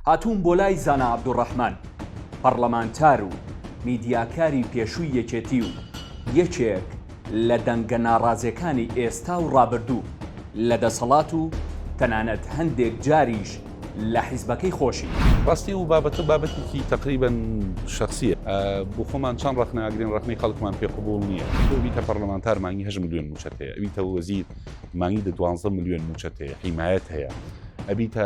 هاتووم بۆ لای زانا عەبدولڕەحمان، پەڕڵەمانتار و میدیاکاری پێشووی یەکێتی و یەکێک لە دەنگە ناڕازێکانی ئێستا و ڕابردوو لە دەسەڵات و تەنانەت هەندێک جاریش لە حیزبەکەی خۆشی. ڕاستی ئەو بابەتە بابەتێکی تەقریبەن شەخسییە. بۆ خۆمان چەند ڕەخنە ئەگرین، ڕەخنەی خەڵکمان پێ قبووڵ نییە. تۆ بیتە پەڕڵەمانتار مانگی هەشت ملیۆن مووچەت هەیە، ئەبیتە وەزیر مانگی دە دوانزدە ملیۆن مووچەت هەیە، حیمایەت هەیە، ئەبیتە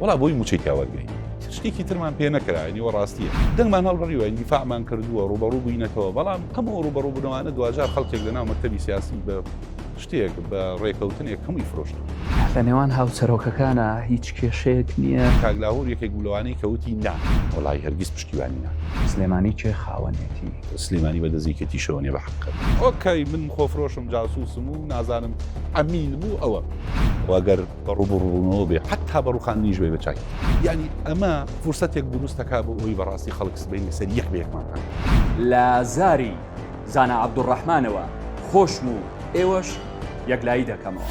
وەڵا بۆی موچەی تیا وەرگرین شتێکی ترمان پێ نەکرا نیوە ڕاستیە دەنگمان هەڵبڕیوە دیفاعمان کردووە ڕوبەڕوو بووینەتەوە بەڵام ئەم ئەو ڕوبەڕوو بنەوانە دواجار خەڵکێک لە ناو مەکتەبی سیاسی بە شتێک بە ڕێکەوتنێک هەمووی فرۆشت لە نێوان هاوسەرۆکەکانە هیچ کێشەیەک نییە کاگلاهور یەکێک بلوانەی کەوتی نا وڵی هەرگیز پشتیوانی نا سلێمانی کێ خاوەنێتی سلێمانی بە دەزیکەتی شەوەنێ بە حقە ئۆکەی من خۆفرۆشم جاسوسم و نازانم ئەمین بوو ئەوە واگەر بە ڕووبەڕووبوونەوە بێ حەتتا بە ڕووخاندنیش بێ بە چاکی. یەعنی ئەمە فرسەتێک دروست دەکات بۆ ئەوەی بە ڕاستی خەڵک سبەینێ سەر یەک بە یەکمان بکات. لە زاری زانا عەبدولڕەحمانەوە خۆشم و ئێوەش یەکلایی دەکەمەوە.